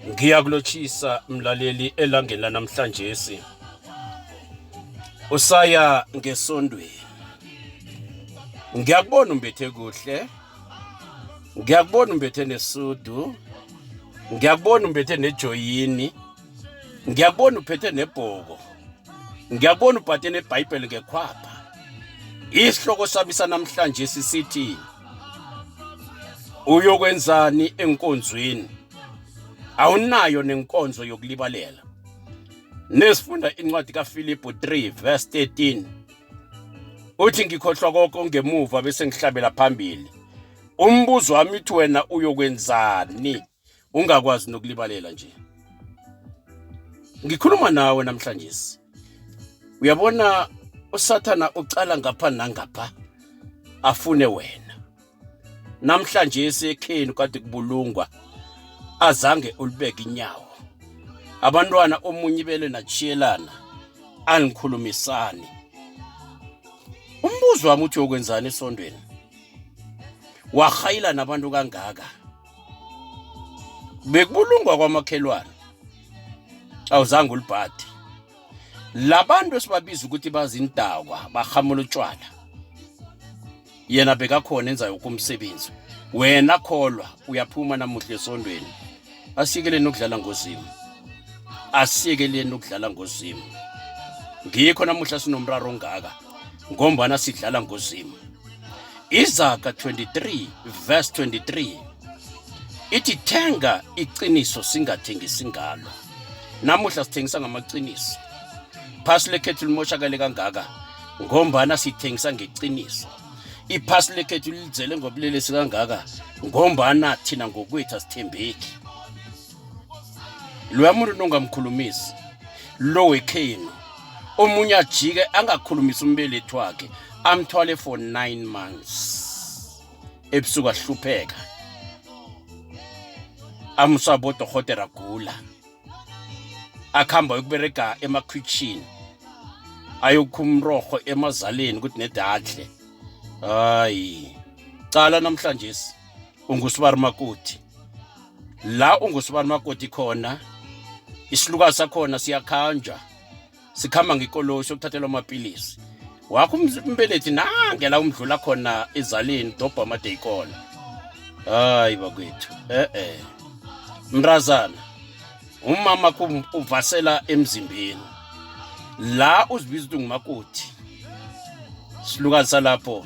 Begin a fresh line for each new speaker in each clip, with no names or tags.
Ngiyakulotshisa mlaleli elangeni lanamhlanje si. Usaya ngesondweni. Ngiyakubona umbethe kuhle. Ngiyakubona umbethe nesudu. Ngiyakubona umbethe nejoyini. Ngiyakubona uphethe nebhoko. Ngiyakubona ubhathe neBhayibheli ngekhwapha. Isihloko sami sanamhlanje sisithi uyokwenzani enkonzweni awunayo nenkonzo yokulibalela nesifunda incwadi kaFilipu 3 verse 13 uthi ngikhohlwa konke ngemuva bese ngihlabela phambili umbuzo wami uthi wena uyokwenzani ungakwazi nokulibalela nje ngikhuluma nawe namhlanje uyabona usathana ucala ngapha nangapha afune wena namhlanje esekheni kade kubulungwa azange ulibeke inyawo abantwana omunye ibele nachiyelana angikhulumisani umbuzo wami uthi uyokwenzani esondweni wahayila nabantu kangaka bekubulungwa kwamakhelwane awuzange ulibhadi labantu esibabiza ukuthi bazindakwa barhamula utshwala yena bekakhona enza yoke umsebenzi wena kholwa uyaphuma namuhle esondweni asiyekeleni ukudlala ngozimu asiyekeleni ukudlala ngozimu ngikho namuhla sinomraro ongaka ngombana sidlala ngozimu izaga 23 verse 23 ithi thenga iqiniso singathengisi ngalo namuhla sithengisa ngamaqiniso iphasi lekhethu limoshakale kangaka ngombana sithengisa ngeqiniso iphasi lekhethu lizele ngobulelesi kangaka ngombana thina ngokwethu asithembeki loya muntu nongamkhulumisi lo wekhenu omunye ajike angakhulumisi umbelethi wakhe amthwale for 9 months ebusuku ahlupheka amusa bodorhotera agula akuhamba yokuberega emakhwitshini ayokhumroho emazaleni ukuthi nedadle hayi cala namhlanje ungusibari makuthi la ungusibani makoti khona isilukazi sakhona siyakhanja sikhamba ngekoloyi sokuthathela amapilisi wakho umbelethi nangela umdlula khona ezaleni dobha amadeyikona hayi bakwethu e-e mrazana umama uvasela emzimbeni la uzibiza ukuthi ngumakoti silukazi salapho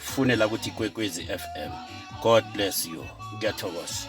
funela ukuthi ikwekwezi fm god bless you ngiyathokoza